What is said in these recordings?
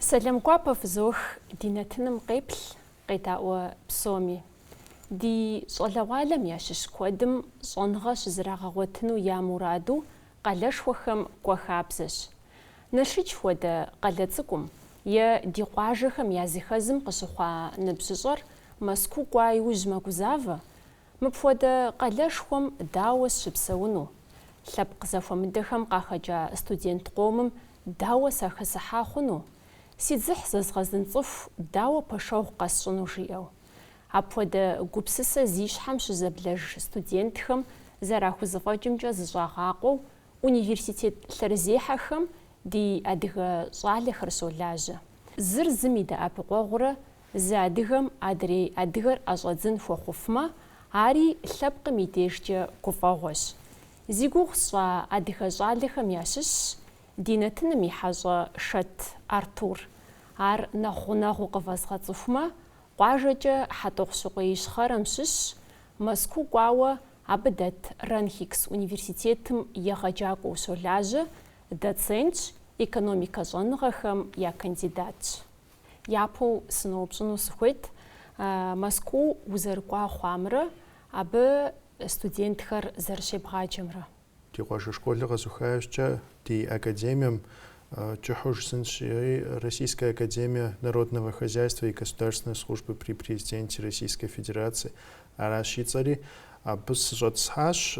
Сэлам гуапэ фызох ди нэтыным къеплъ, къедаӏуэ псоми. Ди щӏалэгъуалэм ящыщ куэдым щӏэныгъэ щызэрагъэгъуэтыну я мураду къалэшхуэхэм кӏуэ хабзэщ. Налшыч хуэдэ къалэ цӏыкӏум е ди къуажэхэм я зыхэзым къыщыхъуа ныбжьыщӏэр Мэзкуу кӏуа иужь мэгузавэ, мыпхуэдэ къалэшхуэм дауэ сщыпсэуну, лъэпкъ зэхуэмыдэхэм къахэкӏа студент къомым дауэ сахэсыхьа хъуну, си дзыхь зэзгъэзын цӏыху дауэ пэшэгъу къэсщӏыну жиӏэу. Апхуэдэ гупсысэ зи щхьэм щызэблэж студентхэм зэрахузэфӏэкӏымкӏэ зыщӏагъакъуэу университет лъэрызехьэхэм ди адыгэ щӏалэхэр щолажьэ. Зыр зым и дэӏэпыкъуэгъурэ зы адыгэм адрей адыгэр ӏэщӏэдзын хуэхъуфмэ, ари лъэпкъым и дежкӏэ гуфӏэгъуэщ. Зи гугъу сщӏа адыгэ щӏалэхэм ящыщщ ди нэтыным и хьэщӏэ Шэт Артур. Ар нэхъ гъунэгъуу къывэзгъэцӏыхумэ, Къуажэкӏэ Хьэтӏохъущыкъуей Ищхъэрэм щыщщ, Мэзкуу кӏуауэ абы дэт РАНХиГС университетым егъэджакӏуэу щолажьэ, доцентщ, экономикэ щӏэныгъэхэм я кандидатщ. Япэу сыноупщӏыну сыхуейт, Мэзкуу узэрыкӏуа хъуамрэ абы студентхэр зэрыщебгъаджэмрэ? Ди къуажэ школыр къэзуха иужькӏэ ди академием кӏыхьу жысӏэнщи, Российская академия народного хозяйства и государственной службы при Президенте Российской Федерации аращ и цӏэри, абы сыщӏэтӏысхьащ,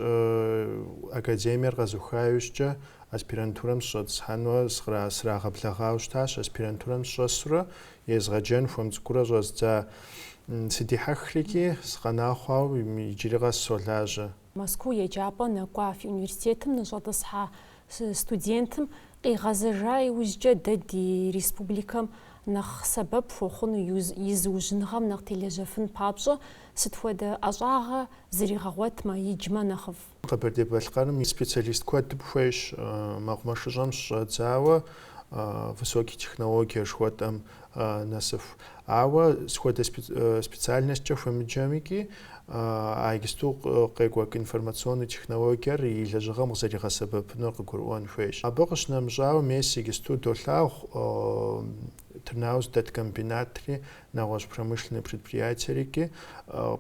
академиер къэзуха иужькӏэ аспирантурэм сыщӏэтӏысхьэнуэ срагъэблэгъауэ щытащ, аспирантурэм сщӏэсурэ езгъэджэн хуэм цӏыкӏуурэ щӏэздза сыдихьэхрики, сыкъэна хъуауэ иджыри къэс солажьэ. Мэзкуу еджапӏэ нэкӏуа фи университетым ныщӏэтӏысхьа студентым къигъэзэжа иужькӏэ дэ ди республикэм нэхъ сэбэп хуэхъуну и зыужьыныгъэм нэхъ телэжьэфын папщӏэ сыт хуэдэ ӏэщӏагъэ зригъэгъуэтмэ, иджмэ нэхъыфӏ? Къэбэрдей-Балъкъэрым и специалист куэдым хуейщ мэкъумэшыщӏэм щыщӏэдзауэ высокий технологие жыхуэтӏэм нэсыху. Ауэ сыт хуэдэ специальностькӏэ хуемыджэмикӏи, а иджысту къекӏуэкӏ информационный технологиер и лэжьыгъэм къызэригъэсэбэпынур къыгурыӏуэн хуейщ. Абы къыщынэмыщӏауэ, мес иджысту долъагъу Тырныауз дэт комбинатри, нэгъуэщӏ промышленный предприятиерикӏи,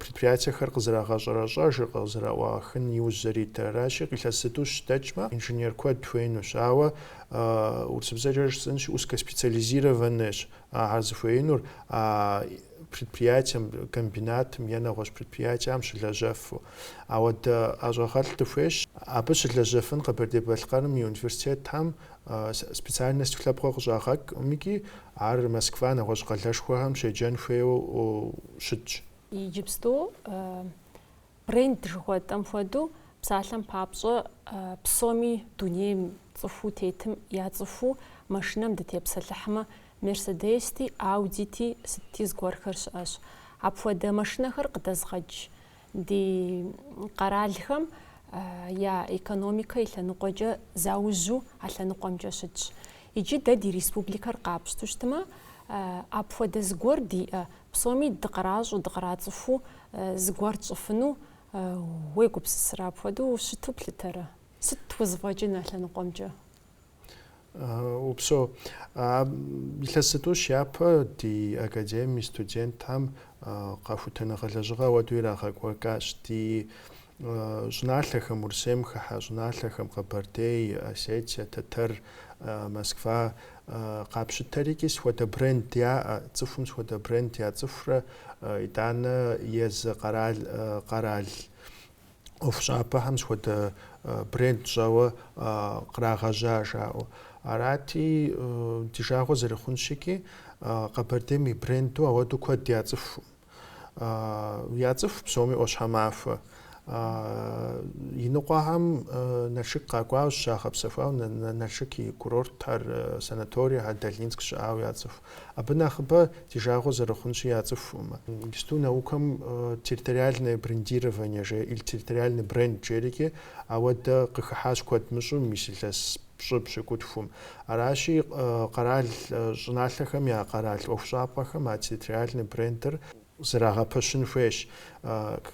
предприятиехэр къызэрагъэщӏэрэщӏэжыр, къызэраӏуахын иужь зэритыр. Аращи, илъэс зытӏущ дэкӏмэ, инженер куэд хуейнущ. Ауэ Урысыбзэкӏэ жысӏэнщи, узкоспециализированныйщ ар зыхуеинур а предприятием, комбинатым е нэгъуэщӏ предприятиям щылэжьэфу. Ауэдэ ӏэщӏагъэлӏ дыхуейщ. Абы щылэжьэфын Къэбэрдей-Балъкъэрым и университетхэм специальность лъэпкъыу къыщӏагъэкӏӏыми-кӏи, ар Москва, нэгъуэщӏ къалэшхуэхэм щеджэн хуейуэ щытщ. Иджыпсту Бренд жыхуэтӏэм хуэдэу, псалъэм папщӏэ, псоми дунейм цӏыхуу тетым яцӏыхуу машинэм дытепсэлъыхьмэ, Мерседести, Аудити, сытти зыгуэрхэр щыӏэщ. Апхуэдэ машинэхэр къыдэзыгъэж ди къэралхэм я экономикэ и лъэныкъуэкӏэ заужьу а лъэныкъуэмкӏэ щытщ. Иджы дэ ди республикэр къапщту щытмэ, апхуэдэ зыгуэр диӏэ Псоми дыкъращӏэу, дыкърацӏыхуу зыгуэр тщӏыфыну уегупсысрэ? Апхуэдэу щыту плъытэрэ? Сыт тхузэфӏэкӏын а лъэныкъуэмкӏэ? Упсо. Илъэс зытӏущ япэ ди академием и студентхэм къэхутэныгъэ лэжьыгъэ ауэдэу ирагъэкӏуэкӏащ. Ди щӏыналъэхэм, Урысейм хыхьэ щӏыналъэхэм, Къэбэрдей, Осетие, Тэтэр, Москва, Къапщытэри-кӏи схуэдэ бренд яӏэ, цӏыхум схуэдэ бренд яцӏыхурэ, итӏанэ езы къэрал, къэрал ӏуэхущӏапӏэхэм схуэдэ бренд щӏэуэ кърагъэжьа жаӏэу. Арати, ди жагъуэ зэрыхъунщи-кӏи, Къэбэрдейм и бренду ауэдэу куэд яцӏыху. Яцӏыху псоми ӏуащхьэмахуэ. Иныкъуэхэм Налшык къакӏуауэ, зыщагъэпсэхуауэ Налшык и курортхэр, санаторийхэр Долинск щыӏауэ яцӏыху. Абы нэхъыбэ ди жагъуэ зэрыхъунщи яцӏыхуӏым. Иджысту наукэм территориальное брендирование жеӏэ, или территориальный бренд жери, ауэдэ къыхыхьащ куэд мыщӏэу мис илъэс пщӏы пщыкӏутхум. Аращи, къэрал щӏыналъэхэм я къэрал ӏуэхущӏапӏэхэм а территориальный брендыр зрагъэпэщын хуейщ.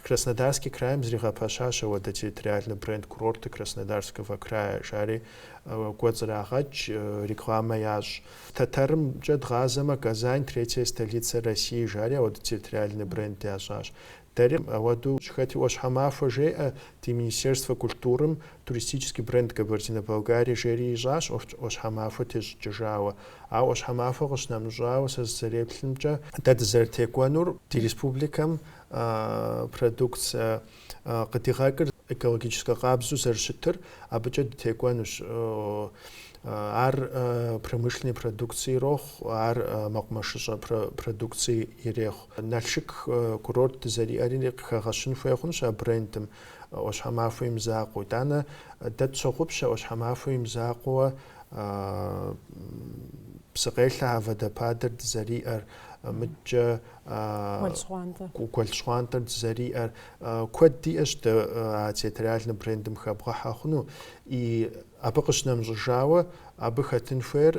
Краснодарский крайм зригъэпэщащ ауэдэ территориальный бренд курорты Краснодарского края жари кӏуэцӏрагъэкӏ, рекламэ ящӏ. Тэтэрымкӏэ дгъазэмэ, Казань, третья столица России жари ауэдэ территориальный бренд ящӏащ. Дэри ауэдэу щыхэти, ӏуащхьэмахуэ жеӏэ ди Министерствэ культурым туристический бренд Кабардино-Балкария жери ищӏащ ӏуащхьэмахуэ тещӏыкӏыжауэ. Ауэ ӏуащхьэмахуэ къыщынэмыщӏауэ, сэ сызэреплъымкӏэ, дэ дызэрытекӏуэнур ди республикэм продукцэ къыдигъэкӏыр, Экологическэ къабзэу зэрыщытыр абыкӏэ дытекӏуэнущ. Ар промышленный продукци ирохъу, ар мэкъумэшыщӏэ продукци ирехъу. Налшык курорт дызэриӏэри къыхэгъэщын хуей хъунущ а брендым ӏуащхьэмахуэ и мызакъуэу. Итӏанэ дэ тщогъупщэ ӏуащхьэмахуэ и мызакъуэуэ псыкъелъэ а водопадыр дызэриӏэр. Мыдкӏэ. Гуэл щхъуантӏэр дызэриӏэр. Куэд диӏэщ дэ а территориальный брендым хэбгъэхьэ хъуну. И абы къыщынэмыщӏыжауэ, абы хэтын хуейр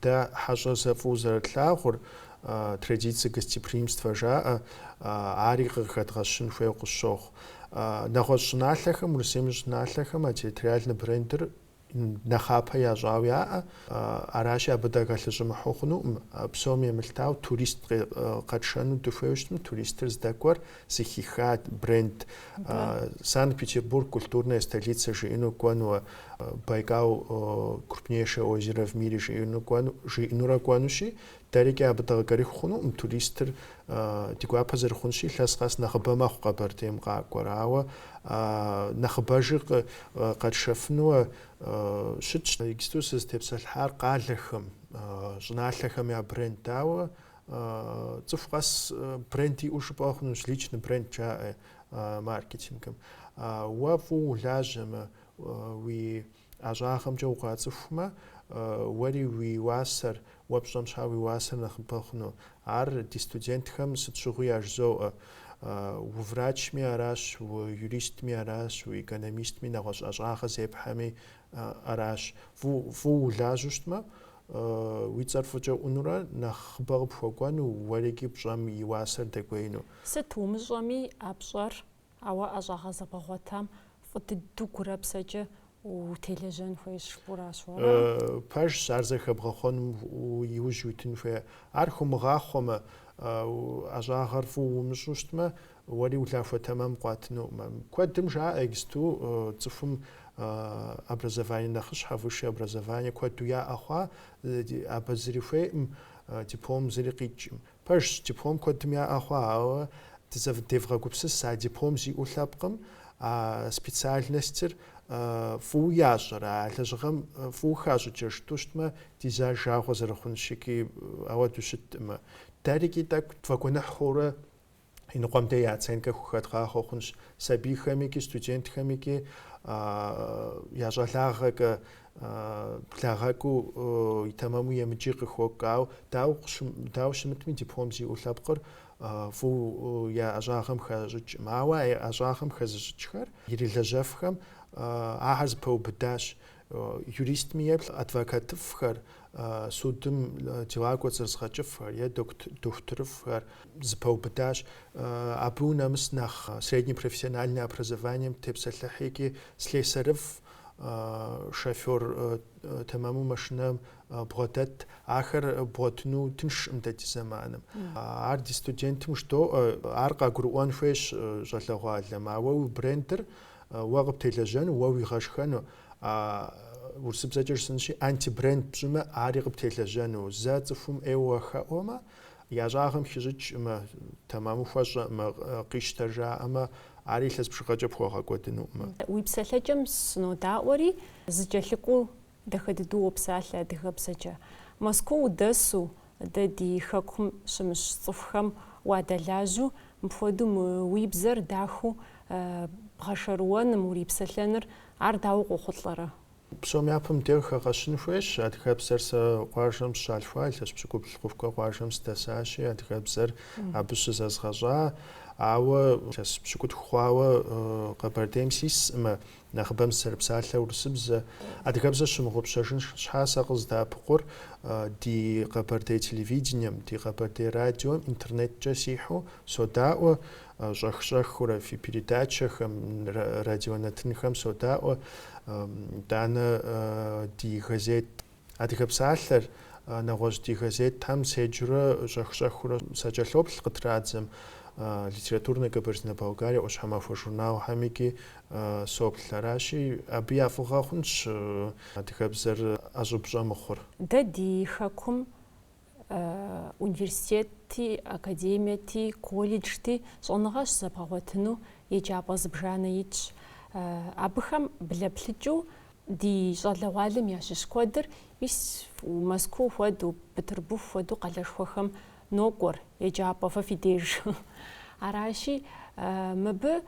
дэ хьэщӏэр фӏыуэ зэрытлъагъур, традиции гостеприимства жаӏэ, ари къыхэдгъэщын хуейу къысщохъу. Нэгъуэщӏ щӏыналъэхэм, Урысейм и щӏыналъэхэм а территориальный брендыр нэхъапэ ящӏауэ яӏэ, аращи абы дакӏэлъыщӏэмыхьу хъунукъым, псом емылъытауэ турист къэтшэну дыхуейуэ щытмэ, туристыр здэкӏуэр зыхиха бренд, Санкт-Петербург культурная столица жиӏэну кӏуэнуэ, Байкал крупнейшее озеро в мире жиӏэну кӏуэну, жиӏэнурэ кӏуэнущи, Дэрикӏи абы дыкъыкӏэрыху хъунукъым. Туристыр ди гуапэ зэрыхъунщи, илъэс къэс нэхъыбэ мэхъу Къэбэрдейм къакӏуэр. Ауэ нэхъыбэжи къэтшэфынуэ щытщ. Иджыпсту сызытепсэлъыхьар къалэхэм, щӏыналъэхэм я бренд. Ауэ цӏыху къэс бренд иӏэу жыпӏэ хъунущ, личный бренд жаӏэ маркетингым. Уэ фӏыуэ улажьэмэ, уи. ӏэщӏагъэмкӏэ укъацӏыхумэ, уэри уи уасэр, уэ пщӏэм щхьа уи уасэр нэхъыбэ хъуну. Ар ди студентхэм сыт щыгъуи яжызоӏэ. Уврачми аращ, уюристми аращ, уэкономистми, нэгъуэщӏ ӏэщӏагъэ зепхьэми аращ. Фӏыуэ улажьэу щытмэ, уи цӏэр фӏыкӏэ ӏунурэ нэхъыбэ къыпхуэкӏуэну, уэрикӏи пщӏэм и уасэр дэкӏуеину. Сыт умыщӏэми, а пщӏэр Ауэ ӏэщӏагъэ зэбгъэгъуэтам фӏы дыдэу гурэ псэкӏэ утелэжьэн хуейщ жыпӏэращ уэ. Пэжщ, ар зэхэбгъэхъуэнум иужь уитын хуейр. Ар хумыгъахъуэмэ, ӏэщӏагъэр фӏыуэ умыщӏу щытмэ, уэри улахуэ тэмэм къуатынукъым. Куэдым жаӏэ иджыпсту цӏыхум образование нэхъыщхьэ, высшее образование куэду яӏэ хъуа, абы зыри хуейӏым, диплом зыри къикӏкъым. Пэжщ, диплом куэдым яӏэ хъуа, ауэ дызэдевгъэгупсыс а диплом зиӏэу лъэпкъым, а специальностыр фӏыуэ ящӏэрэ, а лэжьыгъэм фӏыуэ хащӏыкӏрэ жытӏу щытмэ, ди зы жагъуэ зэрыхъунщи, ауэду щытӏымэ. Дэрикӏи тӏэкӏу тфӏэгуэныхь хъуурэ иныкъуэм-дей я оценкэ хухэдгъахъуэ хъунщ сабийхэмикӏи, студентхэмикӏи, я щӏалагъэкӏэ благъэкӏыу и тэмэму емыджи къыхокӏ. Ауэ дауэ щымытми, диплом зиӏэу лъэпкъыр фӏыуэ я ӏэщӏагъэм хащӏыкӏкъым. Ауэ а ӏэщӏагъэм хэзыщӏыкӏхэр ирилэжьэфхэм ахэр зэпэубыдащ. юристми еплъ адвокатыфӏхэр, судым дела кӏуэцӏрызыгъэкӏыфхэр е дохутырыфӏхэр зэпэубыдащ. Абы унэмыс нэхъ среднэ профессиональнэ образованием тепсэлъыхь икӏи слесарыфӏ, шофер тэмэму машинэм бгъэдэт, ахэр бгъуэтыну тыншкъым дэ ди зэманым. Ар ди студентым жыдоӏэ, ар къагурыӏуэн хуейщ щӏалэгъуалэм, ауэ уи брендыр Уэ къыптелэжьэну, уэ уигъэшхэну а урысыбзэкӏэ жысӏэнщи, антибренд пщӏымэ, ари къыптелэжьэну. Зэ цӏыхум ӏейуэ хэӏуэмэ, я ӏэщӏагъэм хищӏыкӏкъымэ, тэмэму хуэщӏэкъымэ, къищтэ жаӏэмэ, ари илъэс бжыгъэкӏэ пхуэгъэкӏуэдынукъымэ. Уи псэлъэкӏэм сынодаӏуэри, зэкӏэлъыкӏуэу Дахэ дыдэу уопсалъэ адыгэбзэкӏэ. Мэзкуу удэсу, дэ ди хэкум щымыщ цӏыхухэм уадэлажьэу, мыпхуэдэу мы уи бзэр дахэу бгъэшэрыуэным, урипсэлъэныр, ар дауэ къохъулӏэрэ? Псом япэм деж хэгъэщын хуейщ. Адыгэбзэр сэ къуажэм сыщалъхуа, илъэс пщыкӏубл сыхъухукӏэ къуажэм сыдэсащи, адыгэбзэр абы щызэзгъэщӏа. Ауэ илъэс пщыкӏутху хъуауэ Къэбэрдейм сискъымэ, Нэхъыбэм сызэрыпсалъэ урысыбзэ, адыгэбзэ сщымыгъупщэжын щхьа сэ къыздэӏэпыкъур ди къэбэрдей телевидением, ди къэбэрдей радиом интернеткӏэ сихьэу содаӏуэ, щӏэх-щӏэхыурэ фи передачэхэм, радионэтынхэм содаӏуэ, итӏанэ ди газет Адыгэ псалъэр, нэгъуэщӏ ди газетхэм седжурэ щӏэх-щӏэхыурэ сакӏэлъоплъ къытрадзэм, Литературная Кабардино-Балкария ӏуащхьэмахуэ журналхэмикӏи соплъ. Аращи, абы я фӏыгъэ хъунщ адыгэбзэр ӏэщӏыб щӏэмыхъур. Дэ ди Хэкум университетти, академиети, колледжти щӏэныгъэ щызэбгъэгъуэтыну еджапӏэ зыбжанэ итщ. Абыхэм блэплъыкӏыу ди щӏалэгъуалэм ящыщ куэдыр мис Мэзкуу хуэдэу, Петербург хуэдэу къалэшхуэхэм нокӏуэр, еджапӏэ фэ фи деж. Аращи, мыбы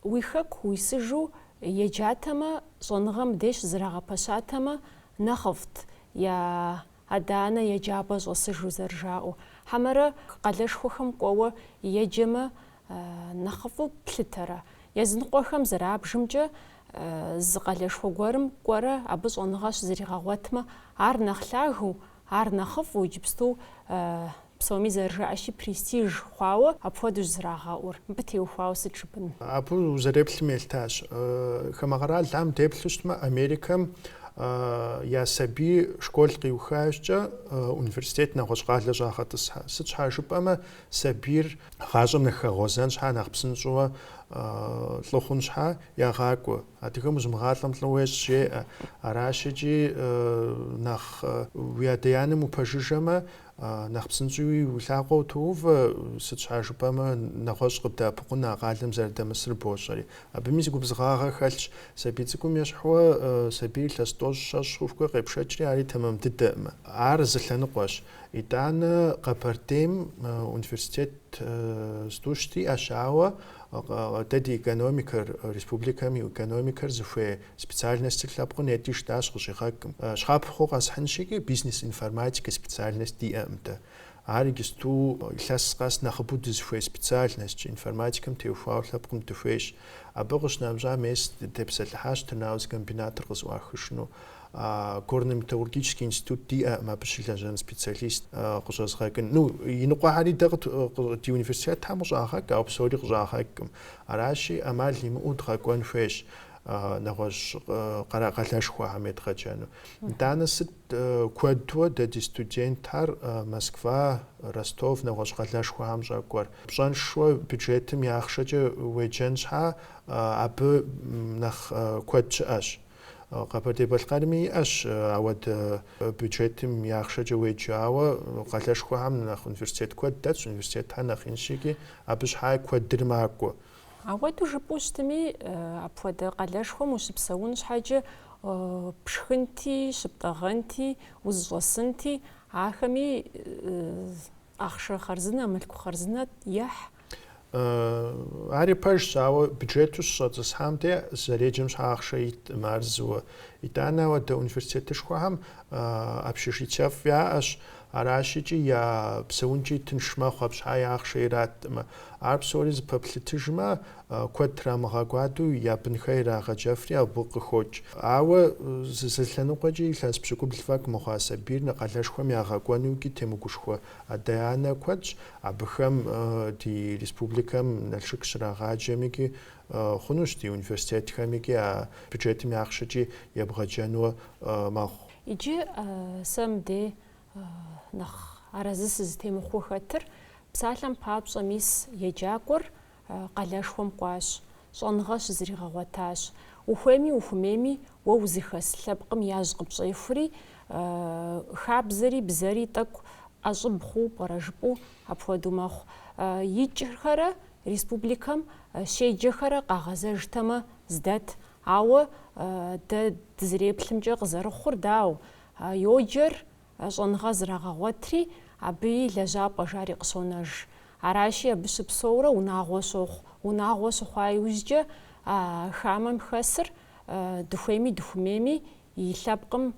уи хэку уисыжу еджатэмэ, щӏэныгъэм деж зэрагъэпэщатэмэ нэхъыфӏт, я Адэ-анэ я джабэ щӏэсыжу зэрыжаӏэу. Хьэмэрэ къалэшхуэхэм кӏуэуэ еджэмэ, нэхъыфӏу плъытэрэ? Языныкъуэхэм зэрабжымкӏэ, зы къалэшхуэ гуэрым кӏуэрэ абы щӏэныгъэ щызригъэгъуэтмэ, ар нэхъ лъагэу, ар нэхъыфӏу иджыпсту Псоми зэрыжаӏэщи, престиж хъуауэ апхуэдэущ зэрагъэӏур. Мыбы теухуауэ сыт жыпӏэн? Абы узэреплъым елъытащ. Хамэ къэралхэм деплъу щытмэ, Америкэм я сабий школ къиухащкӏэ университет нэгъуэщӏ къалэ щӏагъэтӏысхьэ. Сыт щхьа жыпӏэмэ, сабийр гъащӏэм нэхъ хэгъуэзэн щхьа, нэхъ псынщӏэуэ лӏы хъун щхьа ягъакӏуэ. Адыгэм узымыгъалӏэм лӏы уещӏ жеӏэ. Аращ икӏи нэхъ уи адэ-анэм упэжыжэмэ, Нэхъ псынщӏэуи уи лъакъуэ утоувэ, сыт щхьа жыпӏэмэ нэгъуэщӏ къыбдэӏэпыкъун а къалэм зэрыдэмысыр бощӏэри. Абыми зы губзыгъагъэ хэлъщ, сабий цӏыкӏум ещхьууэ сабийр илъэс тӏощӏ щэщӏ хъухукӏэ къепшэкӏри ари тэмэм дыдэкъымэ. Ар зы лъэныкъуэщ. Итӏанэ Къэбэрдейм университет зытӏущ диӏэщ, ауэ дэ ди экономикэр, республикэм и экономикэр зыхуей Специальностыр лъэпкъым нети жытащ къыщӏигъэкӏкъым. Щапхъэу къэсхьынщи бизнес информатикэ специальность диӏэкъым дэ. Ар иджысту илъэс къэс нэхъыбэу дызыхуей специальностщ, информатикэм теухуауэ лъэпкъым дыхуейщ. Абы къыщынэмыщӏа мес дытепсэлъыхьащ Тырныауз комбинатыр къызэӏуахыжыну. Горно-металлургический институт диӏэкъым абы щылэжьэн специалист къыщӏэзыгъэкӏыну. Иныкъуэхэри дэ ди университетхэм къыщӏагъэкӏ, ауэ псори къыщӏагъэкӏкъым. Аращи, ӏэмал имыӏэу дгъэкӏуэн хуейщ. нэгъуэщӏ къэра къалэшхуэхэм едгъэджэну. Итӏанэ сыт куэдуэ дэ ди студентхэр Москва, Ростов нэгъуэщӏ къалэшхуэхэм щӏэкӏуэр? Пщӏэншэу бюджетым и ахъшэкӏэ уеджэн щхьа, абы нэхъ куэд щыӏэщ. Къэбэрдей-Балъкъэрми иӏэщ ауэдэ бюджетым и ахъшэкӏэ уеджэ, ауэ къалэшхуэхэм нэхъ университет куэд дэтщ, университетхэр нэхъ инщ икӏи абы щхьа куэдыр макӏуэ. Ауэдэу жыпӏэу щытми, апхуэдэ къалэшхуэм ущыпсэун щхьэкӏэ пшхынти, щыптӏэгъэнти, узыщӏэсынти, ахэми ахъшэ хъарзынэ, мылъку хъарзынэ ехь. Ари пэжщ, ауэ бюджету щыщӏэтӏысхьам де зэреджэм щхьа ахъшэ иткъым ар зыуэ. Итӏанэ ауэдэ университетышхуэхэм общежитиефӏ яӏэщ, Аращикӏи я псэункӏи тынш мэхъу, абы щхьаи ахъшэ ираткъымэ. Ар псори зэпэплъытыжмэ, куэд трамыгъэкӏуадэу я бынхэр ирагъэджэфри абы къыхокӏ. Ауэ зы лъэныкъуэкӏи илъэс пщыкӏубл фӏэкӏ мыхъуа сабийр нэ къалэшхуэм ягъэкӏуэнукӏи темыгушхуэ адэ-анэ куэдщ, абыхэм ди республикэм Налшык щрагъаджэмикӏи хъунущ, ди университетхэмикӏи а бюджетым и ахъшэкӏи ебгъэджэнуэ мэхъу. Иджы сэ мыде нэхъ арэзы сызытемыхъуу хэтыр, псалъэм папщӏэ мис еджакӏуэр къалэшхуэм кӏуащ, щӏэныгъэ щызригъэгъуэтащ. Ухуейми ухуэмейми, уэ узыхэс лъэпкъым яжь къыпщӏехури, хабзэри бзэри тӏэкӏу ӏэщӏыб хъуу пӏэрэ жыпӏэу апхуэдэу мэхъу. Икӏхэрэ республикэм щеджэхэрэ къагъэзэжтэмэ здэт, Ауэ дэ дызэреплъымкӏэ къызэрыхъур дауэ, йоджэр щӏэныгъэ зрагъэгъуэтри, абы и лэжьапӏэ жари къыщонэж. Аращи, абы щыпсэурэ унагъуэ щохъу. Унагъуэ щыхъуа иужькӏэ хамэм хэсыр дыхуейми дыхуэмейми и лъэпкъым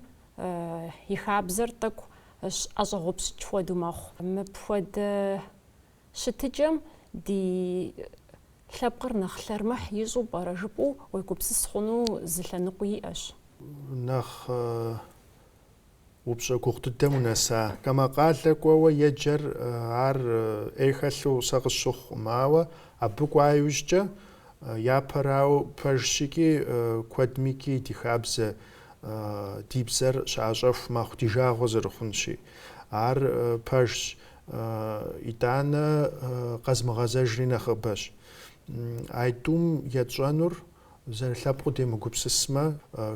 и хабзэр тӏэкӏу ӏэщӏэгъупщыкӏ хуэдэу мэхъу. Мыпхуэдэ Щытыкӏэм ди лъэпкъыр нэхъ лъэрмыхь ищӏу пӏэрэ жыпӏэу уегупсыс хъуну зы лъэныкъуи иӏэщ. Нэхъ упщӏэ гугъу дыдэм унэса. Хамэ къалэ кӏуэуэ еджэр ар ӏей хэлъу сэ къысщыхъукъым, ауэ абы кӏуа иужькӏэ япэрауэ пэжщ икӏи куэдмикӏи ди хабзэ, ди бзэр щыӏэщӏэху мэхъу ди жагъуэ зэрыхъунщи. Ар пэжщ. Итӏанэ къэзмыгъэзэжри нэхъыбэщ. А тӏум етщӏэнур зэрылъэпкъыу демыгупсысмэ,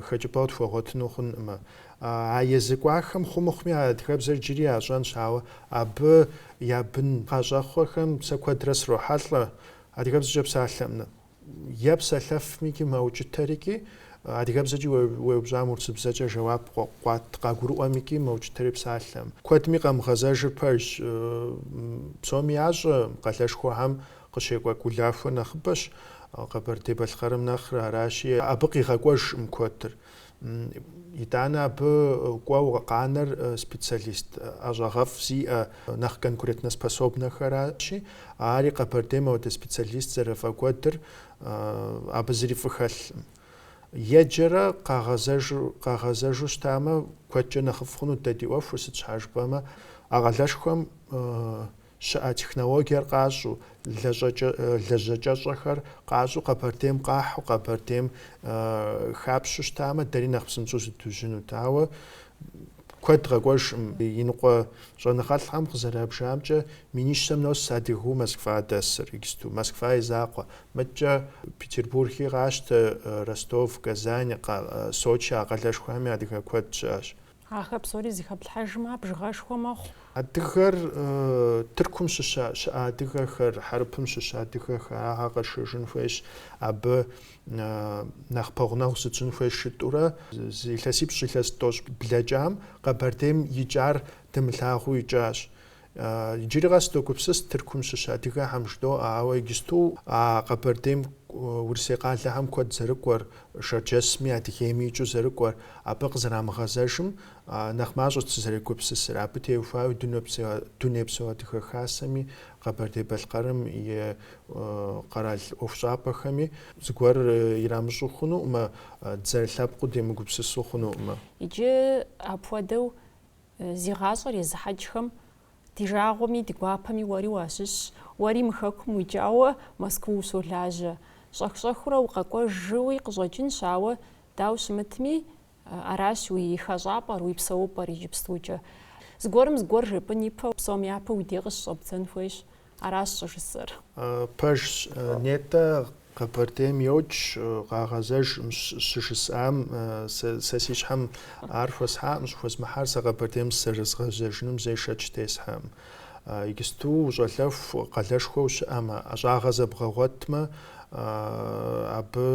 хэкӏыпӏэу тхуэгъуэтыну хъункъымэ. А езы кӏуахэм хъумыхъуми а адыгэбзэр иджыри ящӏэнщ, ауэ абы я бын къащӏэхъуэхэм сэ куэдрэ срохьэлӏэ адыгэбзэкӏэ псалъэкъым Е псалъэфмикӏи мэукӏытэрикӏи, адыгэбзэкӏи уеупщӏам урысыбзэкӏэ жэуап къыуат къагурыӏуэмикӏи мэукӏытэри псалъэкъым. Куэдми къамыгъэзэжыр пэжщ. Псоми ящӏэ, къалэшхуэхэм къыщекӏуэкӏ улахуэ нэхъыбэщ Къэбэрдей-Балъкъэрым нэхърэ, аращи, абы къигъэкӏуэжкъым куэдыр. Итӏанэ абы кӏуэу къанэр специалист ӏэщӏагъэфӏ зиӏэ, нэхъ конкурентноспособнэхэращи, ари Къэбэрдейм апхуэдэ специалист зэрыфӏэкӏуэдыр абы зыри фӏы хэлъкъым. Еджэрэ къагъэзэжу щытамэ, куэдкӏэ нэхъыфӏ хъунут дэ ди ӏуэхур, сыт щхьа жыпӏэмэ, а къалэшхуэм щыӏэ технологиер къащӏэу, лэжьэкӏэщӏэхэр къащӏэу Къэбэрдейм къахьу Къэбэрдейм хапщэу щытамэ, дэри нэхъ псынщӏэу зыдужьынут. Ауэ куэд къэкӏуэжкъым. Иныкъуэ щӏэныгъэлӏхэм къызэрабжамкӏэ, минищэм нос адыгэу Москва дэсыр иджысту. Москва и закъуэ. Мыдкӏэ Петербурги къащтэ, Ростов, Казань, Сочи а къалэшхуэхэми адыгэ куэд щыӏэщ. Ахэр псори зыхэплъхьэжмэ, бжыгъэшхуэ мэхъу. Адыгэр Тыркум щыщ щыӏэ адыгэхэр, Хьэрыпым щыщ адыгэхэр агъэ къэшэжын хуейщ, абы нэхъ пэгъунэгъу зытщӏын хуейщ жытӏурэ, зы илъэсипщӏ илъэс тӏощӏ блэкӏам Къэбэрдейм икӏар дымылъагъуу икӏащ. Иджыри къэс догупсыс Тыркум щыщ адыгэхэм жыдоӏэ, ауэ иджысту а Къэбэрдейм Урысей къалэхэм куэд зэрыкӏуэр, Шэрджэсми Адыгейми икӏыу зэрыкӏуэр, абы къызэрамыгъэзэжым нэхъ мащӏэт сызэрегупсысыр. Абы теухуауи Дунейпсо Адыгэ Хасэми, Къэбэрдей-Балъкъэрым и къэрал ӏуэхущӏапӏэхэми зыгуэр ирамыщӏу хъунукъымэ, дызэрылъэпкъыу демыгупсысу хъунукъымэ. Иджы апхуэдэу Зи гъащӏэр езыхьэкӏхэм ди жагъуэми, ди гуапэми уэри уащыщщ. Уэри мы хэкум уикӏауэ Москву ущолажьэ. Щӏэх-щӏэхыурэ укъэкӏуэжуи къыщӏэкӏынщ, ауэ, дауэ щымытми, аращ уи хэщӏапӏэр, уи псэупӏэр иджыпстукӏэ. Зыгуэрым зыгуэр жепӏын ипэу, псом япэу уи деж къыщыщӏэбдзэн хуейщ. Аращ щӏыжысӏэр. Пэжщ, нетӏэ, Къэбэрдейм йокӏ, къагъэзэжкъым щыжысӏам, сэ си щхьэм ар хуэсхьакъым, щӏыхуэзмыхьар сэ Къэбэрдейм зэрызгъэзэжыным зэи шэч тесхьэкъым. Иджысту ущӏалэху къалэшхуэ ущыӏэмэ, ӏэщӏагъэ зэбгъэгъуэтмэ, абы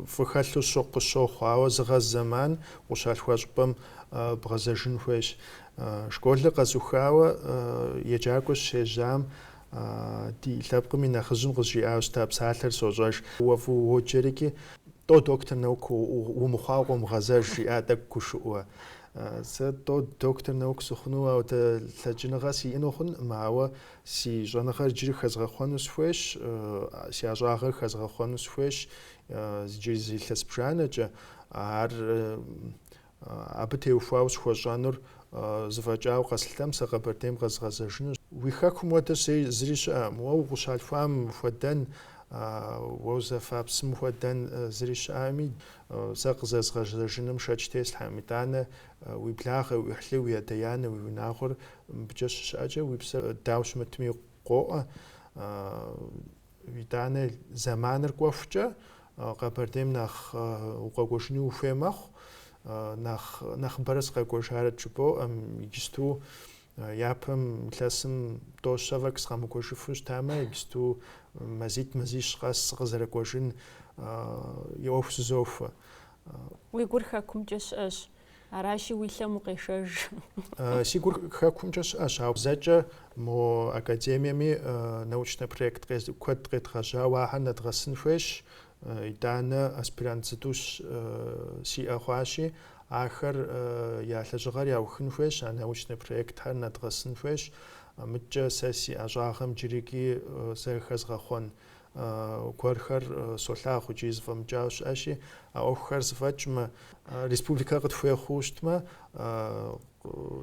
фӏы хэлъу къысщохъу, ауэ зыгъэз зэман къущалъхуа щӏыпӏэм бгъэзэжын хуейщ. Школыр къэзухауэ еджакӏуэ сыщежьам ди лъэпкъым и нэхъыжьым къызжиӏауэ щыта псалъэр сощӏэж, уэ фӏыуэ уоджэрикӏи, тӏо доктор наук умыхъуауэ къомыгъэзэж, жиӏа тӏэкӏу гушыӏэу. Сэ тӏо доктор наук сыхъуну апхуэдэ лъэкӏыныгъэ сиӏэну хъункъым, ауэ си щӏэныгъэр иджыри хэзгъэхъуэну сыхуейщ, си ӏэщӏагъэр хэзгъэхъуэну сыхуейщ иджыри зы илъэс бжанэкӏэ. Ар Абы теухуауэ схуэщӏэнур зэфӏэкӏауэ къэслъытэм, сэ Къэбэрдейм къэзгъэзэжынущ. Уи хэкум хуэдэ зыри щыӏэкъым. Уэ укъыщалъхуам хуэдэн, уэ узэфа псым хуэдэн зыри щыӏэкъыми, сэ къызэзгъэзэжыным шэч теслъхьэкъым. Итӏанэ уи благъэ, уи ӏыхьлы, уи адэ-анэ, уи унагъуэр мыбыкӏэ щыщыӏэкӏэ, уи псэр дауэ щымытми къоӏэ. Итӏанэ зэманыр кӏуэхукӏэ Къэбэрдейм нэхъ укъэкӏуэжыни ухуей мэхъу. Нэхъыбэрэ сыкъэкӏуэжарэт жыпӏэу, ӏэм, иджысту япэм илъэсым тӏо-щэ фӏэкӏ сыкъэмыкӏуэжыфу щытамэ, иджысту мазитӏ мазищ къэс сыкъызэрыкӏуэжын и ӏуэху зызохуэ. Уи гур хэкумкӏэ щыӏэщ. Аращи, уи лъэм укъешэж. Си гур хэкумкӏэ щыӏэщ, ауэ зэкӏэ мо академиеми научнэ проект куэд къедгъэжьауэ ахэр нэдгъэсын хуейщ. Итӏанэ аспирант зытӏущ сиӏэ хъуащи, ахэр я лэжьыгъэр яухын хуейщ, а научнэ проектхэр нэдгъэсын хуейщ. Мыдкӏэ сэ си ӏэщӏагъэм джырикӏи зэрыхэзгъэхъуэн гуэрхэр солъагъу икӏи зыфӏэмыкӏауэ щыӏэщи, а ӏуэхухэр зыфӏэкӏмэ, республикэр къытхуей хъууэ щытмэ,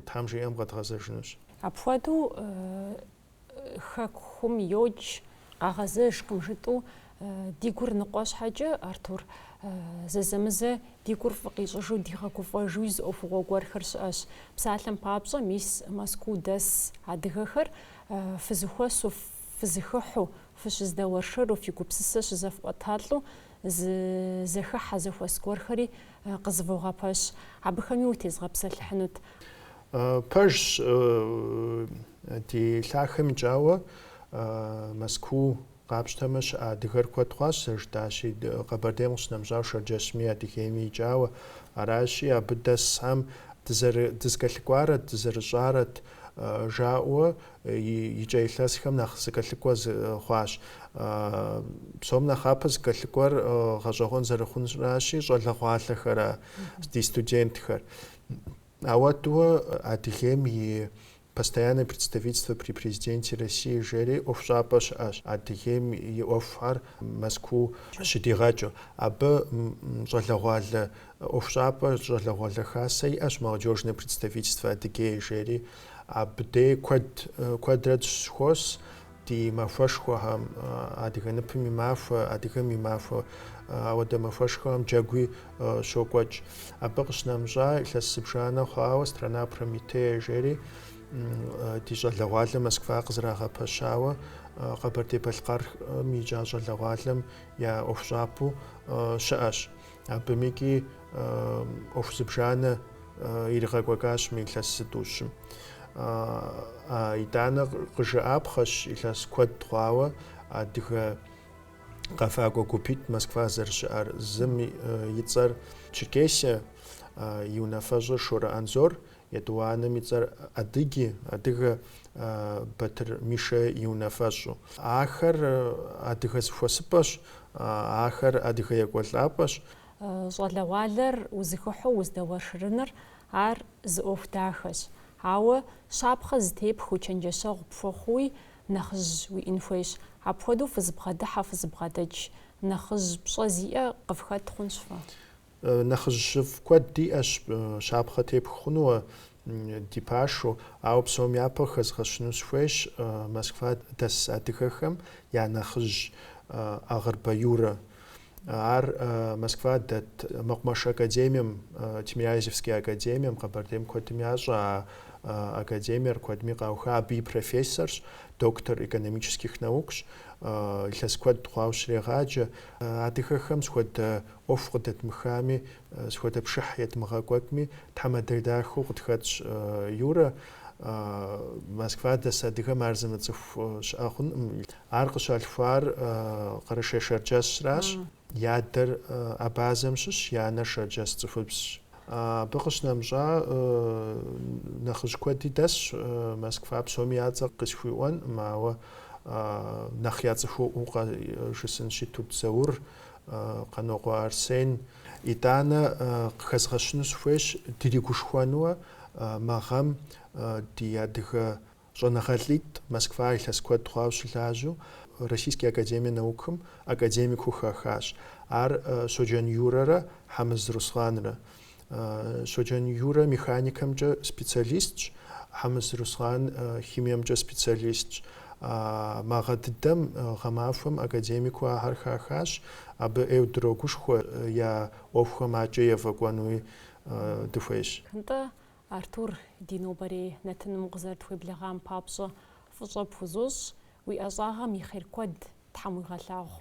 Тхьэм жиӏэм къэдгъэзэжынущ. Апхуэдэу Хэкум йокӏ, къагъэзэжкъым жытӏэу ди гур ныкъуэ щхьэкӏэ, Артур, зэзэмызэ ди гур фӏы къищӏыжу дигъэгуфӏэжуи зы ӏуэхугъуэ гуэрхэр щыӏэщ. Псалъэм папщӏэ, мис Мэзкуу дэс адыгэхэр фызыхуэсу фызыхыхьу, фыщыздэуэршэру, фи гупсысэ щызэфӏуэталӏэу зы зэхыхьэ, зэхуэс гуэрхэри къызывогъэпэщ. Абыхэми утезгъэпсэлъыхьынут. Пэжщ, ди лъахэм икӏауэ Мэзкуу къапщтэмэ щыӏэ адыгэр куэд хъуащ, зэрыжытӏащи, Къэбэрдейм къыщынэмыщӏауэ, Шэрджэсми, Адыгейми икӏауэ. Аращи, абы дэсхэм дызкӏэлъыкӏуарэт, дызэрыщӏарэт жаӏэуэ икӏэ илъэсхэм нэхъ зыкӏэлъыкӏуэ хъуащ. Псом нэхъапэ зыкӏэлъыкӏуэр гъэщӏэгъуэн зэрыхъунращи, щӏалэгъуалэхэращ, ди студентхэр. Ауэдэуэ Адыгейм и Постоянное представительство при Президенте России жери ӏуэхущӏапӏэ щыӏэщ, Адыгейм и ӏуэхухэр Мэзкуу щыдигъэкӏыу. Абы щӏалэгъуалэ ӏуэхущӏапӏэ щӏалэгъуалэ хасэ иӏэщ Молодежное представительство Адыгеи жери. Абы де куэд, куэдрэ дыщызэхуос ди махуэшхуэхэм, адыгэ ныпым и махуэ, адыгэм и махуэ. Ауэдэ махуэшхуэхэм джэгуи щокӏуэкӏ. Абы къыщынэмыщӏа, илъэс зыбжанэ хъуауэ Страна Прометея жери ди щӏалэгъуалэ Москва къызэрагъэпэщауэ Къэбэрдей-Балъкъэрым икӏа щӏалэгъуалэм я ӏуэхущӏапӏэу щыӏэщ. Абымикӏи ӏуэху зыбжанэ иригъэкӏуэкӏащ мы илъэс зытӏущым. Итӏанэ къыжыӏапхъэщ илъэс куэд хъуауэ адыгэ къэфакӏуэ гупитӏ Москва зэрыщыӏэр. Зым и цӏэр Черкесия, и унафэщӏыр Шорэ Анзор, Етӏуанэм и цӏэр Адыги, адыгэ, Батыр Мишэ и унафэщӏу. Ахэр адыгэ зыхуэсыпӏэщ, ахэр адыгэ екӏуэлӏапӏэщ. Щӏалэгъуалэр узыхыхьу уздэуэршырыныр, ар зы ӏуэху дахэщ. Ауэ щапхъэ зытепхыу, чэнджэщэгъу пхуэхъууи, нэхъыжь уиӏын хуейщ. Апхуэдэу фызыбгъэдыхьэ, фызыбгъэдэкӏ нэхъыжь пщӏэ зиӏэ къыфхэт хъунщ фэ. Нэхъыжьыфӏ куэд диӏэщ щапхъэ тепх хъуну ди пашэу, ауэ псом япэ хэзгъэщыну сыхуейщ Москва дэс адыгэхэм я нэхъыжь Агъырбэ Юрэ. Ар Москва дэт Мэкъумэш академием, Тимирязевские академием, Къэбэрдейм куэдым ящӏэ а академиер, куэдми къауха, абы и профессорщ, доктор экономических наукщ, илъэс куэд хъуауэ щрегъаджэ. Адыгэхэм сыт хуэдэ ӏуэху къыдэдмыхами, сыт хуэдэ пшыхь едмыгъэкӏуэкӏми, тхьэмадэ дахэу къытхэтщ Юрэ. Москва дэс адыгэм ар зымыцӏыху щыӏэ хъункъым. Ар къыщалъхуар Къэрэшей-Шэрджэсращ. И адэр Абазэм щыщ, и анэр Шэрджэс цӏыхубзщ. Абы къыщынэмыщӏа нэхъыжь куэди дэсщ Москва, псоми я цӏэ къысхуиӏуэнкъым, ауэ нэхъ яцӏыхуӏуэу къыжысӏэнщи Тут Заур. Къанокъуэ Арсен, итӏанэ къыхэзгъэщыну сыхуейщ, дыригушхуэнуэ мы гъэм ди адыгэ щӏэныгъэлӏитӏ Москва илъэс куэд хъуауэ щылажьэу Российский академия наукым академикыу хахащ. Ар Щоджэн Юрэрэ Хьэмыз Русланрэ. Щоджэн Юрэ механикэмкӏэ специалистщ, Хьэмыз Руслан химиемкӏэ специалистщ. Мы гъэ дыдэм гъэмахуэм академикыу ахэр хахащ, абы ӏейу дрогушхуэ я ӏуэхухэм адэкӏэ ефӏэкӏуэнуи дыхуейщ. Нтӏэ, Артур, ди нобэрей нэтыным укъызэрытхуеблэгъам папщӏэ фӏыщӏэ пхузощӏ, уи ӏэщӏагъэм и хъер куэд Тхьэм уигъэлъагъу.